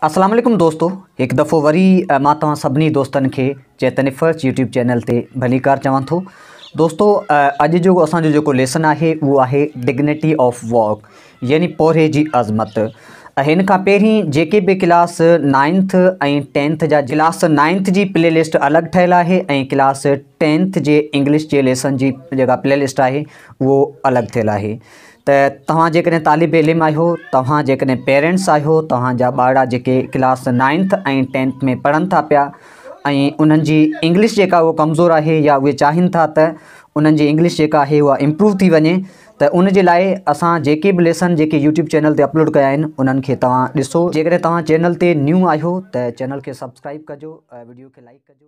اسلام عليڪم دوستو هڪ دفعو وري مان توهان سڀني دوستن کي چيتن افرچ يوٽيوب چينل تي ڀليڪار چوان ٿو دوستو اڄ جو اسان جو جيڪو ليسن آهي اهو آهي ڊگنيٽي آف واڪ يعني پورهي جي عظمت ان کان پهرين جيڪي به ڪلاس نائنٿ ۽ ٽينٿ جا ڪلاس نائنٿ جي پلي لسٽ الڳ ٺهيل آهي ۽ ڪلاس ٽينٿ جي انگلش جي ليسن جي جيڪا پلي لسٽ آهي اهو الڳ ٿيل آهي ته توهان جيڪڏهن طالب علم آهيو توهان جيڪڏهن پيرنٽس آهيو توهان جا ٻارڙا جيڪي ڪلاس نائنٿ ۽ ٽينٿ ۾ پڙهن ٿا پيا ۽ انهن جي انگلش جيڪا هو ڪمزور آهي يا اهي چاهين ٿا ته انهن جي انگلش جيڪا آهي اها امپروو ٿي وڃي ته ان جي لاء اسان جيڪي به ليسن جيڪي يوٽيوب چينل تي اپلوڊ ڪيا آهن انهن کي توهان ڏسو جيڪڏهن توهان چينل تي نيو آهيو ته چينل کي سبسڪرائب ڪجو ويڊيو کي لائڪ ڪجو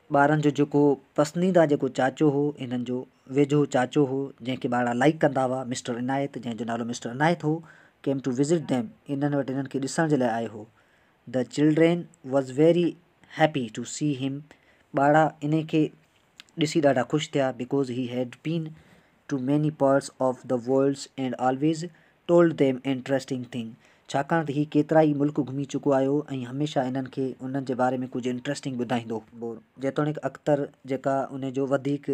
ٻارن جو جيڪو پسنديده جيڪو چاچو هو هنن جو ويجهو چاچو هو جنهن کي ٻارڙا لائيڪ ڪندا هئا مسٽر عنايت جنهن جو نالو mister Inayat he came to visit them هنن وٽ هنن کي ڏسڻ جي لاء آيو هو the children was very happy to see them ٻارڙا انهي کي ڏسي ڏاڍا خوش ٿيا because he had been to many parts of the worlds and always told them interesting thing ڇاڪاڻ ته هي ڪيترائي ملڪ گهمي چڪو آيو ۽ هميشه انهن کي انهن جي باري ۾ ڪجهه انٽريسٽنگ ٻڌائيندو هو. جيتوڻيڪ اختر جيڪا ان جو وڌيڪ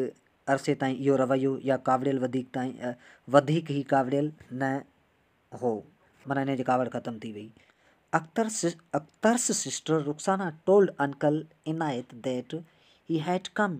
عرصي تائين اهو رويو يا ڪاوڙيل وڌيڪ تائين وڌيڪ هي ڪاوڙيل نه هو معنيٰ انهن جي ڪاوڙ ختم ٿي وئي Akhtar Akhtar's sister Rukhsana told uncle Inayat that he had come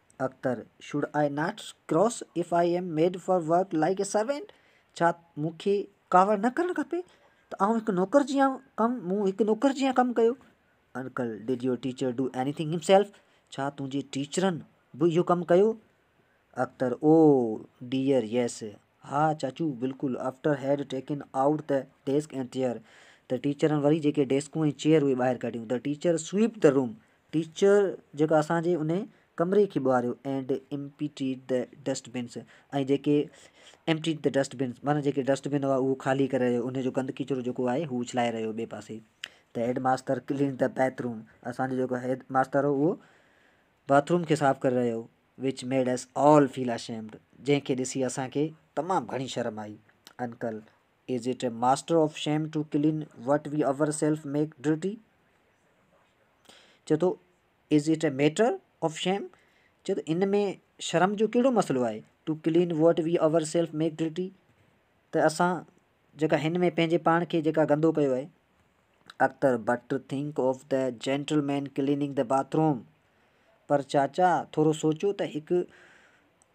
Akhtar, should I not cross if I am made for work like a servant, ڇا مون کي ڪاوڙ نه ڪرڻ کپي ته آئون هڪ نوڪر جيان ڪم مون هڪ نوڪر جيان ڪم ڪيو. Uncle, did your teacher do any thing himself, ڇا تنهنجي ٽيچرن به اهو ڪم ڪيو؟ اختر، او ڊيئر ييس، ها چاچو بلڪل، after had taken out the desk and chair, ته ٽيچرن وري جيڪي ڊيسڪون ۽ چيئر اهي ٻاهر ڪڍيون، ته teacher sweep the room, teacher جيڪا اسان جي انهي ڪمري کي ٻهاريو and emptied the dust bins ۽ جيڪي ايمپٽيڊ دي ڊسٽ بنس معنيٰ جيڪي ڊسٽ بن هئا اهو خالي ڪري رهيو انهي جو گند ڪچرو جيڪو آهي هو اڇلائي رهيو ٻئي پاسي ته headmaster cleaned the bathroom اسان جو جيڪو هيد ماستر هو اهو باٿ روم کي صاف ڪري رهيو which made us all feel ashamed جنهن کي ڏسي اسان کي تمام گهڻي شرم آئي uncle Is it a master of shame to clean what we ourselves make dirty? چئي ٿو Is it a matter of shame? چئي ٿو ان ۾ شرم جو ڪهڙو مسئلو آهي to clean what we ourselves make dirty ته اسان جيڪا هن ۾ پنهنجي پاڻ کي جيڪا گندو ڪيو آهي Akhtar but think of the gentleman cleaning the bathroom پر چاچا ٿورو سوچو ته هڪ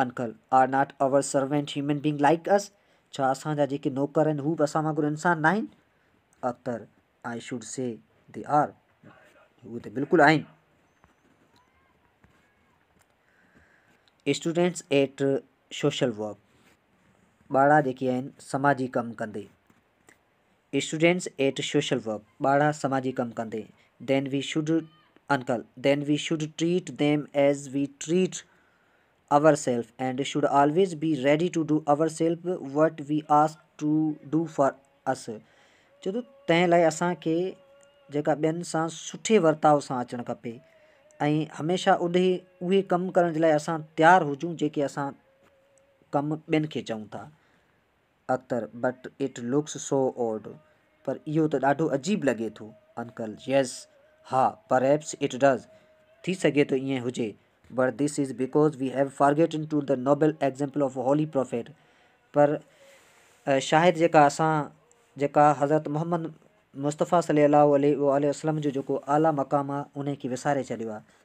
uncle are not our servant human being like us, ڇا اسان جا جيڪي نوڪر آهن هو به اسان وانگر انسان ناهن؟ Akhtar I should see they are, اهي ته بلڪل آهن. اسٽوڊنٽس ايٽ سوشل ورڪ، ٻارڙا جيڪي آهن سماجي ڪم ڪندي. اسٽوڊنٽس ايٽ سوشل ورڪ، ٻاڙا سماجي ڪم ڪندي، then we should uncle, then we should treat them as we treat ourself and should always be ready to do ourself what we ask to do for us چئي ٿو تنهن لاء اسان کي جيڪا ٻين سان سٺي ورتاء سان اچڻ کپي ۽ هميشه اڏهي اهي ڪم ڪرڻ جي لاء اسان تيار هجون جيڪي اسان ڪم ٻين کي چئون ٿا Akhtar, but it looks so odd, پر اهو ته ڏاڍو عجيب لڳي ٿو. انڪل، ييس، ها، پرهيپس اٽ ڊز، ٿي سگهي ٿو ائين هجي، but this is because we have forgotten to the noble example of holy prophet, پر شايد جيڪا اسان جيڪا حضرت محمد مصطفيٰ صلي الله عليه واٰله وسلم جو جيڪو اعليٰ مقام آهي، انهي کي وساري ڇڏيو آهي.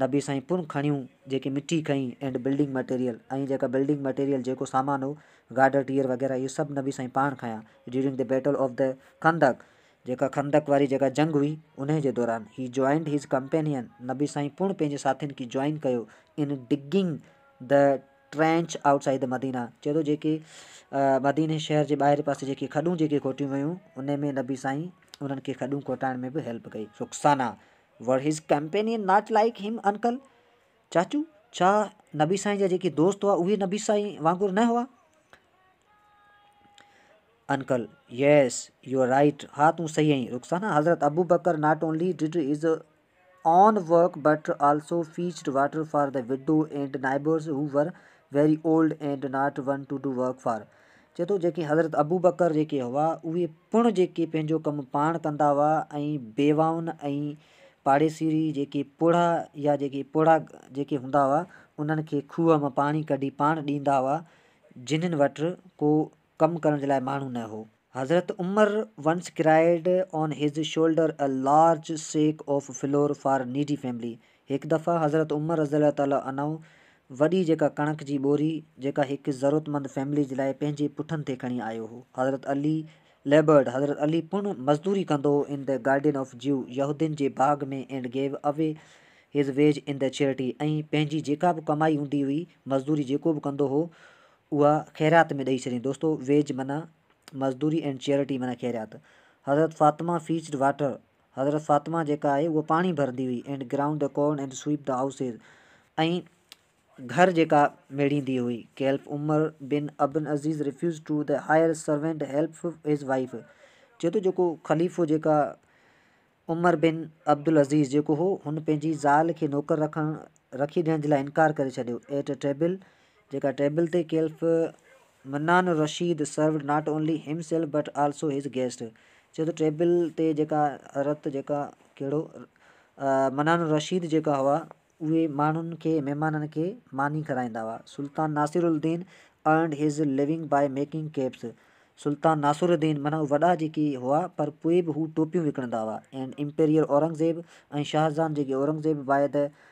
نبي سائين پڻ کڻيون جيڪي مٺي کئي اينڊ بلڊنگ مٽيريل ۽ جيڪا بلڊنگ مٽيريل جيڪو سامان هو گارڊر ٽيئر وغيره اهي سڀ نبي سائين پاڻ کيا during the battle of the خندق جيڪا خندق واري جيڪا جنگ هئي انهي جي دوران هي جوائنڊ هز ڪمپينين نبي سائين پڻ پنهنجي ساٿين کي جوائن ڪيو in digging the trench outside the Medina چئي ٿو جيڪي مديني شهر جي ٻاهرين پاسي جيڪي کڏون جيڪي کوٽيون ويون انهي ۾ نبي سائين انهن کي کڏون کوٽائڻ ۾ به هيلپ ڪئي Rukhsana were his companion not like him uncle? چاچو، ڇا نبي سائين جا جيڪي دوست هئا اهي نبي سائين وانگر نه هئا؟ Uncle, yes, you are right, ها تون صحيح آهين رخسانه، حضرت Abu Bakr not only did his own work but also fetched water for the widow and neighbours who were very old and not one to do work for چئي ٿو جيڪي حضرت ابوبڪر جيڪي هئا اهي پڻ جيڪي پنهنجو ڪم پاڻ ڪندا هئا ۽ بيواهن ۽ پاڙيسري جيڪي پوڙها يا جيڪي پوڙها جيڪي هوندا هئا انهن کي کوهه مان پاڻي ڪڍي پاڻ ڏيندا هئا جنهن وٽ ڪو ڪم ڪرڻ جي لاء ماڻهو نه هو. حضرت Umar once carried on his shoulder a large sack of flour for needy family, هڪ دفعه حضرت عمر رضي الله تعالٰي عنه وڏي جيڪا ڪڻڪ جي ٻوري جيڪا هڪ ضرورتمند فيملي جي لاء پنهنجي پٺن تي کڻي آيو هو حضرت علي ليبرڊ حضرت علي پڻ مزدوري ڪندو هو ان دي گارڊين آف جيو يهودين جي باغ ۾ and gave away his wage in the charity ۽ پنهنجي جيڪا به ڪمائي هوندي هئي مزدوري جيڪو به ڪندو هو اها خيرات ۾ ڏئي ڇڏين دوستو ويج معنيٰ مزدوري اينڊ چيرٽي معنيٰ خيرات حضرت فاطمه فيچڊ واٽر حضرت فاطمه جيڪا آهي اهو پاڻي ڀرندي هئي and ground the corn and sweep the houses ۽ گهر جيڪا ميڙيندي هئي caliph Umar bin ibn Aziz refuses to the hire servant help his wife چي ٿو جيڪو خليفو جيڪا عمر بن عبدالعزيز جيڪو هو هن پنهنجي زال کي نوڪر رکڻ رکي ڏيڻ جي لاء انڪار ڪري ڇڏيو ايٽ اي ٽيبل جيڪا ٽيبل تي کيلف Mannan Rashid served not only himself but also his guest چيو ته ٽيبل تي جيڪا رت جيڪا ڪهڙو منان رشيد جيڪا هئا اهي ماڻهن کي مهمانن کي ماني کارائيندا هئا Sultan Nasiruddin earned his living by making caps Sultan Nasiruddin من وڏا جيڪي هئا پر پوء به هو ٽوپيون وڪڻندا هئا اينڊ امپيريئر اورنگزيب ۽ شاهزان جيڪي اورنگزيب بائي ته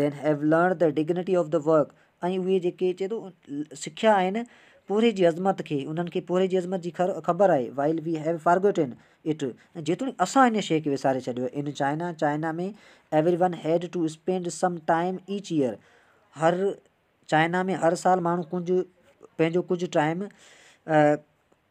then have learned the dignity of the work ۽ اهي جيڪي چئي ٿو سکيا آهن پورهيي جي عظمت کي انهن کي پورهيي جي عظمت جي خبر آهي while we have forgotten it ۽ جيتوڻيڪ اسان ان شيء کي وساري ڇڏيو ان China China ۾ everyone had to spend some time each year هر چائنا ۾ هر سال ماڻهو ڪجهه پنهنجو ڪجهه time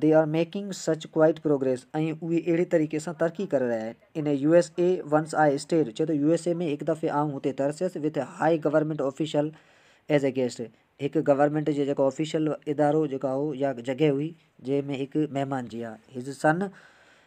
they are making such quite progress ۽ اهي اهڙي طريقي سان ترقي ڪري رهيا آهن in U S A once I stayed چئي ٿو يو ايس اي ۾ هڪ دفعي آئون هتي ترسيس with high government official as a guest هڪ گورنمينٽ جي جيڪو آفيشل ادارو جيڪا هو يا جڳهه هئي جنهن ۾ هڪ مهمان جي هاء هز سن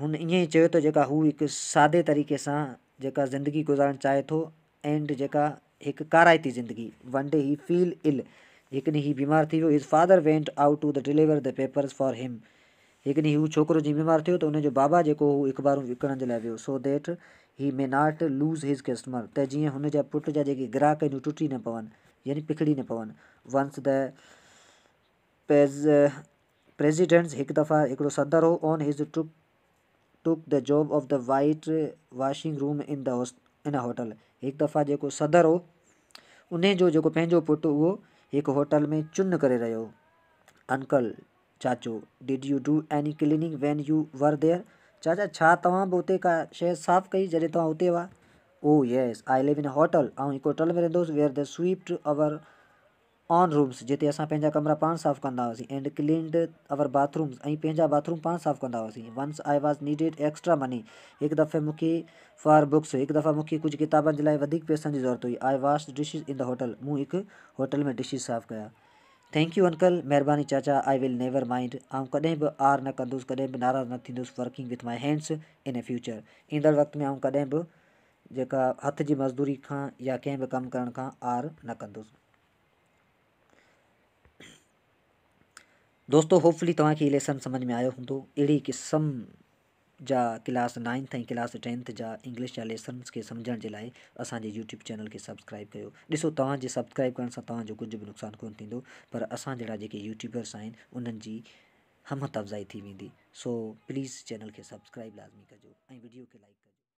هن ائين ئي چيو ته جيڪا هو هڪ سادي طريقي سان جيڪا زندگي گذارڻ چاهي ٿو اينڊ جيڪا هڪ ڪارائتي زندگي one day he fell ill هڪڏهن هي بيمار ٿي ويو his father went out to the deliver the papers for him هڪڏهن هو ڇوڪرو جي بيمار ٿيو ته ان جو بابا جيڪو هو اخبارون وڪڻڻ جي لاء ويو so that he may not lose his customer ته جيئن هن جا پٽ جا جيڪي گراهڪ آهن هو ٽٽي نه پون يعني پکڙي نه پون ونس د پيز پريزيڊنٽس هڪ دفعه هڪڙو صدر هو on his took took the job of the white washing room in the in hotel هڪ دفعه جيڪو صدر هو انهي جو جيڪو پنهنجو پٽ اهو هڪ هوٽل ۾ چن ڪري رهيو هو انڪل چاچو did you do any cleaning when you were there چاچا ڇا توهان به اتي ڪا شي صاف ڪئي جڏهن توهان اتي هئا oh yes I live in hotel آئون هڪ هوٽل ۾ رهندو هوس ويئر دي سويپٽ آور آن رومز جتي اسان پنهنجا ڪمرا پاڻ صاف ڪندا هئاسين and cleaned our bathrooms ۽ پنهنجا باٿ روم پاڻ صاف ڪندا هئاسين once I was needed extra money هڪ دفعي مون کي فار بڪس هڪ دفعي مون کي ڪجهه ڪتابن جي لاء وڌيڪ پئسن جي ضرورت هئي I washed dishes in the hotel مون هڪ هوٽل ۾ ڊشز صاف ڪيا ٿينڪ يو انڪل مهرباني چاچا آء ول نيور مائنڊ آئون ڪڏهن به آر نه ڪندس ڪڏهن به ناراض نه ٿيندس working with my hands in future ايندڙ وقت ۾ آئون ڪڏهن به جيڪا هٿ جي مزدوري کان يا ڪنهن به ڪم ڪرڻ کان عار نه ڪندس. دوستو هوپفلي توهان کي هي ليسن سمجهه ۾ آيو هوندو. اهڙي قسم جا ڪلاس نائنٿ ۽ ڪلاس ٽينٿ جا انگلش جا ليسنس کي سمجهڻ جي لاء اسان جي يوٽيوب چينل کي سبسڪرائيب ڪيو. ڏسو توهان جي سبسڪرائيب ڪرڻ سان توهان جو ڪجهه به نقصان ڪونه ٿيندو پر اسان جهڙا جيڪي يوٽيوبرس آهن انهن جي همت افزائي ٿي ويندي سو پليز چينل کي سبسڪرائيب لازمي ڪجو ۽ وڊيو کي لائڪ ڪجو.